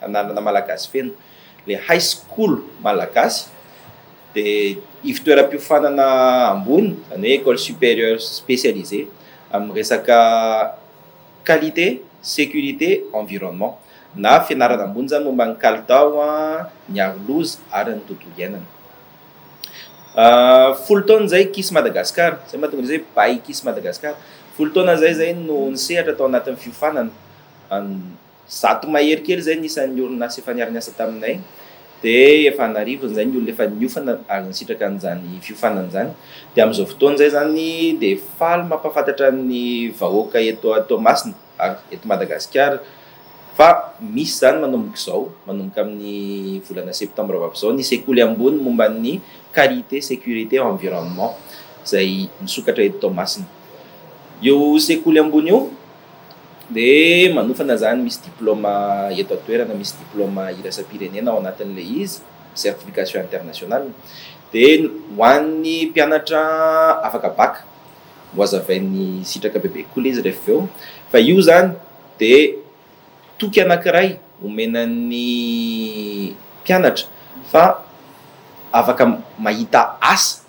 anarana malagasy feno. Ilay high school malagasy dia ivontoeram-piofanana ambony, izany hoe école supérieure spécialisée amin'ny resaka qualité, sécurité, environnement na fianarana ambony izany momba ny kalitao, ny aroloza ary ny tontolo iainana. Folo taona izay KISS Madagascar, izay mahatonga izay bahy KISS Madagascar. Folo taona izay izay no nisehatra tao anatin'ny fiofanana. zato mahery kely izay ny isan'ny orinasa efa niara-niasa taminay, dia efa an'arivony izay ny olona efa niofana ary nisitraka an'izany fiofanana izany, dia amin'izao fotoana izay izany dia faly mampahafantatra ny vahoaka eto Toamasina ary eto Madagasikara fa misy izany manomboka izao, manomboka amin'ny volana septambra ho avy izao, ny sekoly ambony momba ny Qualité, Sécurité, Environnement izay misokatra eto Toamasina. Io sekoly ambony io. dia manofana izany misy diplaoma eto an-toerana, misy diplaoma iraisam-pirenena ao anatin'ilay izy, certification internationale, dia ho an'ny mpianatra afaka bac ho hazavain'ny sitraka bebe kokoa ilay izy rehefa avy eo, fa io izany dia toky anankiray omena ny mpianatra fa afaka mahita asa.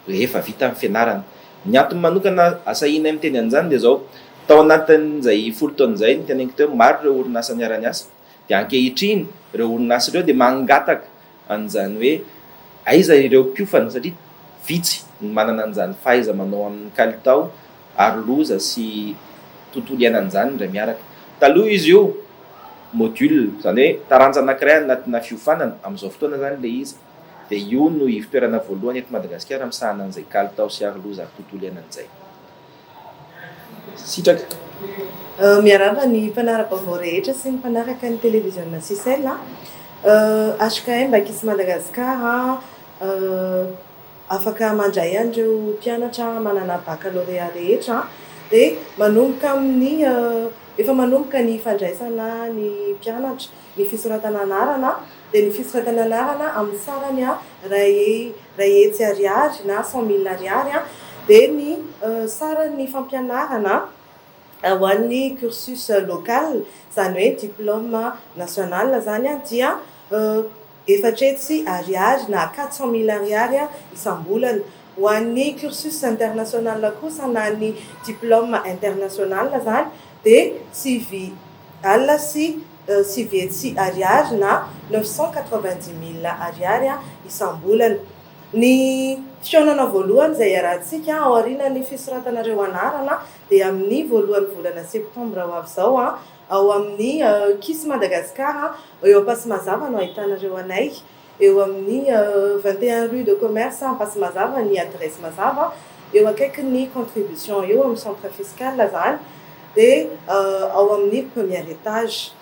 rehefa vita ny fianarana. Ny antony manokana asahianay miteny an'izany dia izao, tao anatin'izay folo taona izay ny teneniko teo, maro ireo orinasa niara-niasa, dia ankehitriny ireo orinasa ireo dia mangataka an'izany hoe aiza ireo mpiofana satria vitsy ny manana an'izany fahaiza-manao amin'ny kalitao ary loza sy tontolo iainan'izany indray miaraka. Taloha izy io module, izany hoe taranja anankiray anatina fiofanana, amin'izao fotoana izany ilay izy, dia io no ivo-toerana voalohany eto Madagasikara misahana an'izay kalitao sy aroloza ary tontolo iainana izay. Sitraka. Miarahaba ny mpanara-baovao rehetra sy ny mpanaraka ny televiziona Sicel a. HKM Bakis Madagascar a, afaka mandray an'ireo mpianatra manana baccalauréat rehetra dia manomboka amin'ny, efa manomboka ny fandraisana ny mpianatra. ny fisoratana anarana dia ny fisoratana anarana amin'ny sarany iray iray hetsy ariary na cent mille ariary dia ny saran'ny fampianarana ho an'ny cursus local izany hoe diplôme national izany dia Efatra hetsy ariary na quatre cent mille ariary isam-bolana. Ho an'ny cursus international kosa na ny diplôme international izany dia sivy alina sy sivy hetsy ariary na neuf cent quatre-vingt-dix mille ariary isam-bolana. Ny fihaonana voalohany izay iarahantsika aorianan'ny fisoratanareo anarana dia amin'ny voalohan'ny volana septambra ho avy izao Ao amin'ny Kiss Madagascar, eo Ampasimazava no ahitanareo anay. Eo amin'ny vingt et un rue de commerce Ampasimazava ny adiresy mazava. Eo akaikin'ny contribution eo, amin'ny centre fiscal izany, dia ao amin'ny premier étage.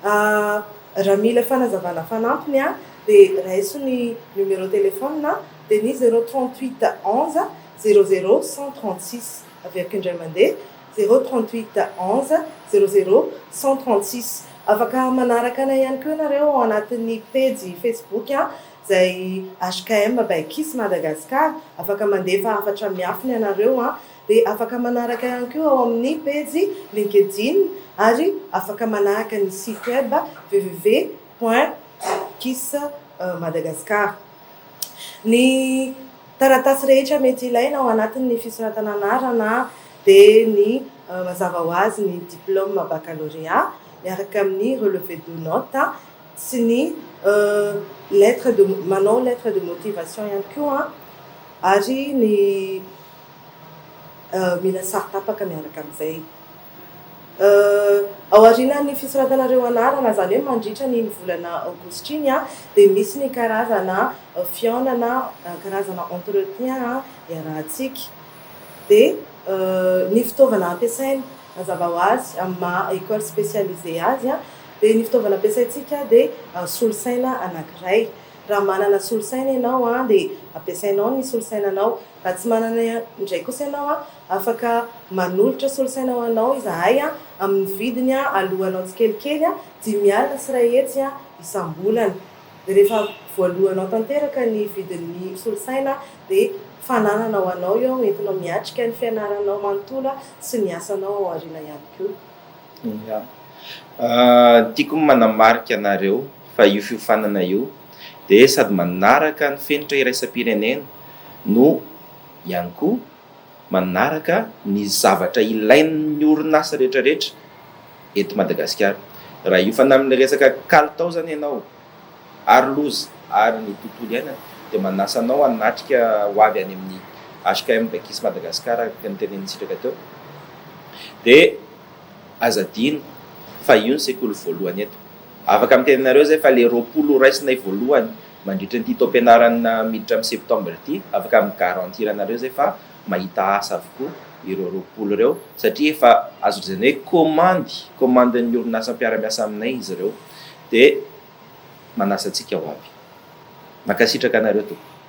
Raha mila fanazavana fanampiny dia raiso ny numéro téléphone dia ny zéro trente huit onze zéro zéro cent trente six. Averiko indray mandeha, zéro trente huit onze zéro zéro cent trente six. Afaka manaraka anay ihany koa ianareo ao anatin'ny pejy Facebook izay HKM by Kiss Madagascar. Afaka mandefa hafatra miafina ianareo dia afaka manaraka ihany koa ao amin'ny pejy Linkedin ary afaka manahaka ny site web www point kiss madagascar. Ny. Taratasy rehetra mety ilaina ao anatin' ny fisoratana anarana dia ny mazava ho azy ny diplaoma bakalorea miaraka amin' ny relevé de note sy ny lettre de manao lettre de motivation ihany koa ary ny mila saro-tapaka miaraka amin' izay. Ao aorianan'ny fisoratana ireo anarana, izany hoe mandritra ny ny volana aogositra iny, dia misy ny karazana fihaonana, karazana entretien iarahantsika. Dia ny fitaovana ampiasaina, mazava ho azy, amin'ny maha école spécialisée azy, dia ny fitaovana ampiasaintsika dia solosaina anankiray. Raha manana solosaina ianao dia ampiasainao ny solosainanao. Raha tsy manana indray kosa ianao, afaka manolotra solosaina ho anao izahay amin'ny vidiny aloanao tsikelikely, dimy alina sy iray hetsy isam-bolana. Dia rehefa voaloanao tanteraka ny vidin'ny solosaina, dia fananana ho anao io entinao miatrika ny fianaranao manontolo sy ny asanao ao aoriana ihany koa. Ia. Tiako ny manamarika anareo fa io fiofanana io dia sady manaraka ny fenitra iraisam-pirenena, no ihany koa manaraka ny zavatra ilain'ny orinasa rehetra rehetra eto Madagasikara. Raha hiofana amin'ny resaka kalitao izany ianao ary loza ary ny tontolo iainana dia manasa anao hanatrika ho avy any amin'ny HKM Bekis Madagascar araka ny tenenin'i Sitraka teo dia aza adino fa io ny sekoly voalohany eto. Afaka miteny anareo izay fa ilay roapolo ho raisinay voalohany Mandritra ity taom-pianarana miditra amin'ny septembre ity, afaka mi-garantir anareo izay fa mahita asa avokoa ireo roapolo ireo satria efa azo lazaina hoe komandy, komandin'ny orinasa mpiara-miasa aminay izy ireo dia manasa antsika ho avy. Mankasitraka anareo tompoko.